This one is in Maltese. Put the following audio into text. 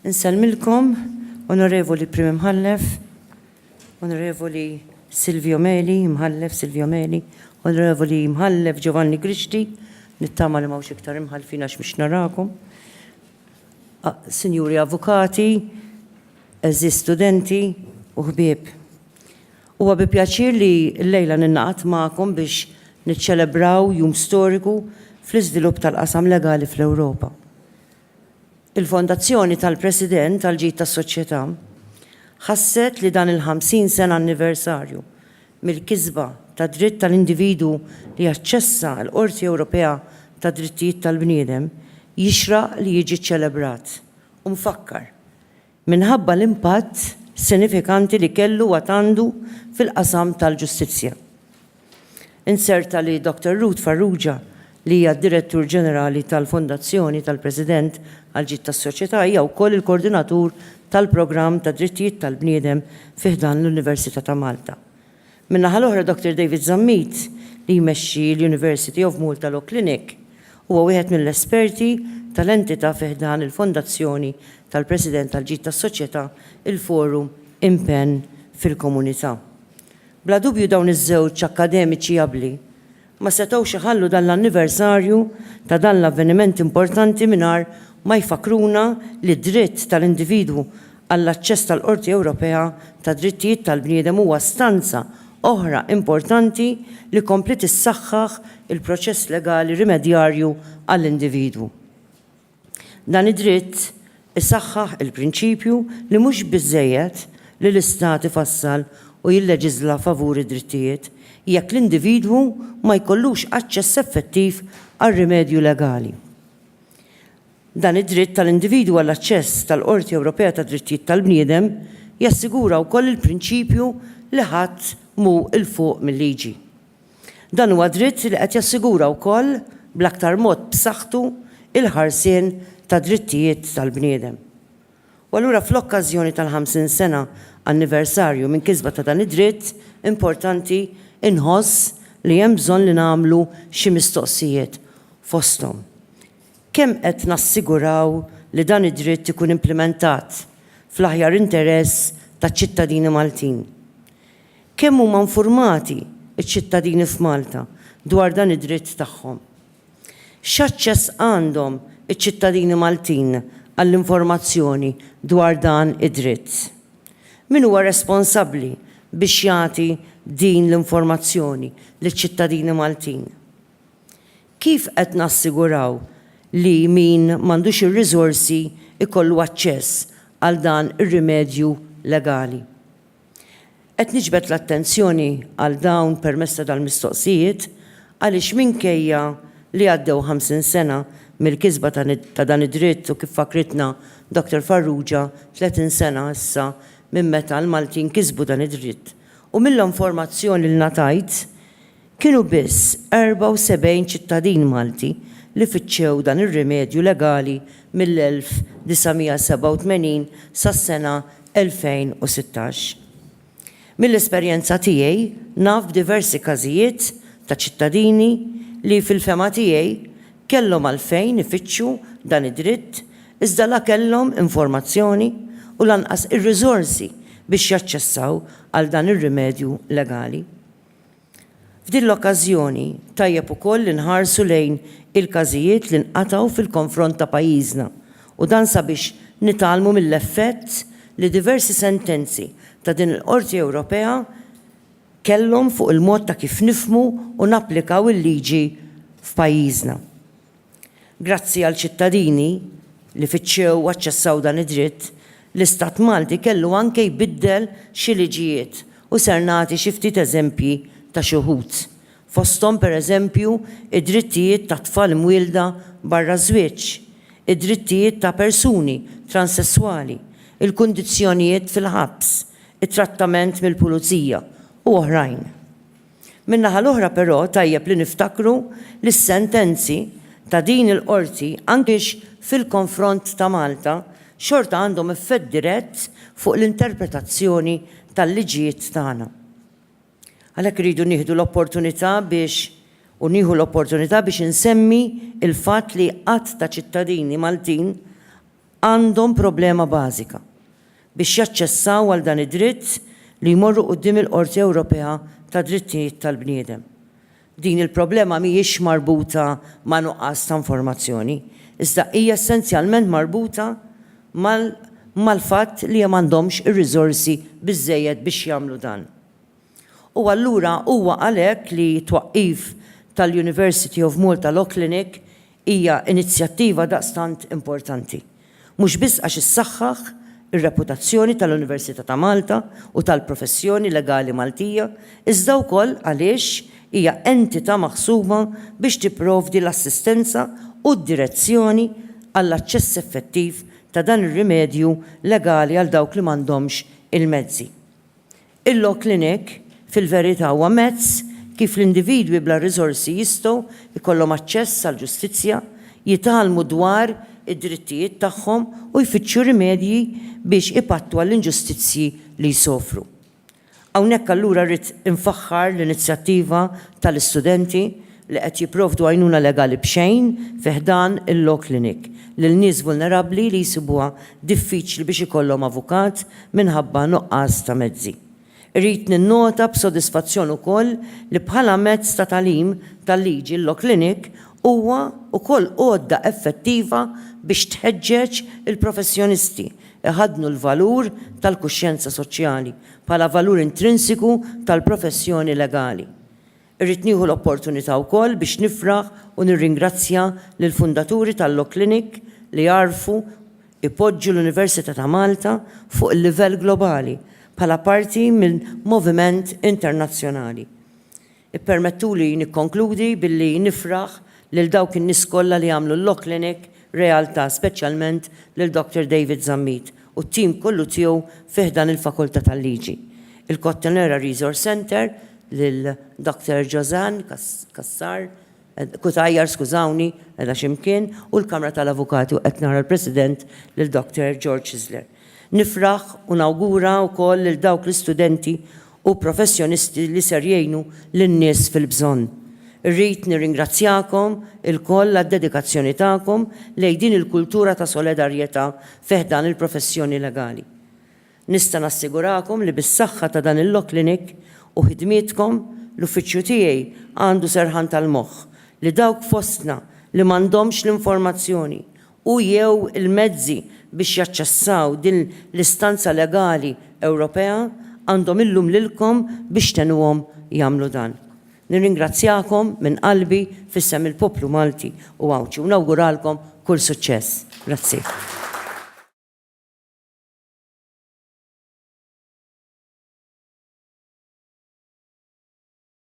Insellmilkom, Onorevoli Prim Imħallef, Onorevoli Silvio Meli, Imħallef Silvio Meli, Onorevoli Imħallef Giovanni Grixti, nittama li mawx iktar imħallfin għax mhux narakom. Sinjuri Avukati, eżi studenti u ħbieb. Huwa bi pjaċir li llejla ningħaqad magħkom biex niċċelebraw jum storiku fl-iżvilupp tal-qasam legali fl-Ewropa. Il-Fondazzjoni tal-President għall-Ġid tas-Soċjetà ħasset li dan il-50 sena anniversarju mill-kisba tad-dritt tal-individwu li jaċċessa l-Qorti Ewropea tad-Drittijiet tal-Bniedem jixraq li jiġi ċċelebrat u mfakkar minħabba l-impatt sinifikanti li kellu u għad għandu fil-qasam tal-ġustizzja. Inzerta li Dottor Ruth Farrugia, li hija d-Direttur Ġenerali tal-Fondazzjoni tal-President għall-Ġid tas-Soċjetà hija wkoll il-Koordinatur tal-Programm tad-Drittijiet tal-Bniedem fi ħdan l-Università ta' Malta. Min-naħa l-oħra Dottor David Zammit, li jmexxi l-University of Malta Law Clinic, huwa wieħed mill-esperti tal-entità fi ħdan il-Fondazzjoni tal-President għall-Ġid tas-Soċjetà, il-Forum Impenn fil-Komunità. Bla dubju dawn iż-żewġ akkademiċi abbli ma setgħux iħallu dan l-anniversarju ta' dan l-avveniment importanti mingħajr ma jfakkruna li d-dritt tal-individwu għall-aċċess tal-Qorti Ewropea tad-Drittijiet tal-Bniedem huwa stanza oħra importanti li kompliet issaħħaħ il-proċess legali rimedjarju għall-individwu. Dan id-dritt isaħħaħ il-prinċipju li mhux biżżejjed li l-Istat ifassal u jilleġiżla favur id-drittijiet jekk l-individwu ma jkollux aċċess effettiv għal rimedju legali. Dan id-dritt tal-individwu għall-aċċess tal-Qorti Ewropea tad-Drittijiet tal-Bniedem jassigura wkoll il-prinċipju li ħadd mhu 'l fuq mil-liġi. Dan huwa dritt li qed jassigura wkoll bl-aktar mod b'saħħtu l-ħarsien tad-drittijiet tal-bniedem. U allura fl-okkażjoni tal-50 sena anniversarju minn kisba ta' dan id-dritt importanti inħoss li hemm bżonn li nagħmlu xi mistoqsijiet fosthom, kemm qed nassiguraw li dan id-dritt ikun implimentat fl-aħjar interess taċ-ċittadini Maltin? Kemm huma infurmati ċ-ċittadini f'Malta dwar dan id-dritt tagħhom? X'aċċess għandhom iċ-ċittadini Maltin għall-informazzjoni dwar dan id-dritt? Min huwa responsabbli biex jagħti din l-informazzjoni liċ-ċittadini Maltin? Kif qed nassiguraw li min m'għandux ir-riżorsi jkollu aċċess għal dan ir-rimedju legali? Qed niġbed l-attenzjoni għal dawn permezz ta' dal-mistoqsijiet għaliex minkejja li għaddew 50 sena mill-kisba ta' dan id-dritt u kif fakkritna Dr. Farrugia 30 sena issa minn meta l-Maltin kisbu dan id-dritt u mill-informazzjoni li ngħatajt Kienu biss 74 ċittadin Malti li fittxew dan ir-rimedju legali mill-1987 sas-sena 2016. Mill-esperjenza tiegħi naf b'diversi każijiet ta' ċittadini li, fil-fehma tiegħi, kellhom għalfejn ifittxu dan id-dritt iżda la kellhom informazzjoni u lanqas ir-riżorsi biex jaċċessaw għal dan ir-rimedju legali. F'din l-okkażjoni, tajjeb ukoll li nħarsu lejn il-każijiet li nqatgħu fil-konfront ta' pajjiżna u dan sabiex nitgħallmu mill-effett li diversi sentenzi ta' din il-Qorti Ewropea kellhom fuq il-mod ta' kif nifhmu u napplikaw il-liġi f'pajjiżna. Grazzi għal ċittadini li fittxew u aċċessaw dan id-dritt, l-Istat Malti kellu anke jbiddel xi liġijiet u ser nagħti xi ftit eżempji ta' xi wħud. Fosthom pereżempju id-drittijiet ta' tfal mwielda barra ż-żwieġ, id-drittijiet ta' persuni transesswali, il-kundizzjonijiet fil-ħabs, it-trattament mill-pulizija u oħrajn. Min-naħa l-oħra però tajjeb li niftakru li s-sentenzi ta' din il-Qorti anki fil-konfront ta' Malta xorta għandhom effett dirett fuq l-interpretazzjoni tal-liġijiet tagħna. Għalhekk irridu nieħdu l-opportunità biex u nieħu l-opportunità biex insemmi l-fatt li għadd ta' ċittadini Maltin għandhom problema bażika biex jaċċessaw għal dan id-dritt li jmorru quddiem il-Qorti Ewropea tad-Drittijiet tal-Bniedem. Din il-problema mhijiex marbuta ma' nuqqas ta' informazzjoni, iżda hija essenzjalment marbuta mal-fatt li m'għandhomx ir-riżorsi biżżejjed biex jagħmlu dan. U allura huwa għalhekk li t-twaqqif tal-University of Malta Law Clinic hija inizjattiva daqstant importanti. Mhux biss għax issaħħaħ ir-reputazzjoni tal-Università ta' Malta u tal-professjoni legali Maltija, iżda wkoll għaliex hija entità maħsuba biex tipprovdi l-assistenza u d-direzzjoni għall-aċċess effettiv ta' dan ir-rimedju legali għal dawk li m'għandhomx il-mezzi. Il-Law Clinic, fil-verità, huwa mezz kif l-individwi bla riżorsi jistgħu jkollhom aċċess għall-ġustizzja, jitgħallmu dwar id-drittijiet tagħhom u jfittxu rimedji biex ipattu għall-inġustizzji li jsofru. Hawnhekk allura rrid infaħħar l-inizjattiva tal-istudenti li qed jipprovdu għajnuna legali b'xejn fi ħdan il-law clinic lil nies vulnerabbli li jsibuha diffiċli biex ikollhom avukat minħabba nuqqas ta' mezzi. Irrid ninnota b'sodisfazzjon ukoll li bħala mezz ta' tagħlim tal-liġi l-law clinic huwa wkoll għodda effettiva biex tħeġġeġ il-professjonisti jħaddnu l-valur tal-kuxjenza soċjali bħala valur intrinsiku tal-professjoni legali. Irrid nieħu l-opportunità wkoll biex nifraħ u nirringrazzja lill-fundaturi tal-Law Clinic li għarfu jpoġġu l-Università ta' Malta fuq il-livell globali bħala parti minn moviment internazzjonali. Ippermettuli nikkonkludi billi nifraħ lil dawk in-nies kollha li għamlu l-Law Clinic realtà, speċjalment lil Doctor David Zammit u t-tim kollu tiegħu fi ħdan il-Fakultà tal-Liġi, il-Kottonera Resource Center, lil Dr. Josanne Cassar, Cutajar skużawni, qiegħda xi mkien, u l-Kamra tal-Avukati u qed nara l-President lil Dr. George Isler. Nifraħ u nawgura wkoll lil dawk l-istudenti u professjonisti li ser jgħinu lin-nies fil-bżonn. Irrid nirringrazzjakom ilkoll għad-dedikazzjoni tagħkom lejn din il-kultura ta' soledarjetà fi ħdan il-professjoni legali. Nista' nassigurakom li bis-saħħa ta' dan il-Law Clinic u ħidmietkom, l-uffiċċju tiegħi għandu serħan tal-moħħ li dawk fostna li m'għandhomx l-informazzjoni u, jew il-mezzi biex jaċċessaw din l-istanza legali Ewropea għandhom illum lilkom biex tgħenuhom jagħmlu dan. Nirringrazzjakom minn qalbi f'isem il-poplu Malti u Għawdxi u nawguralkom kull suċċess. Grazzi.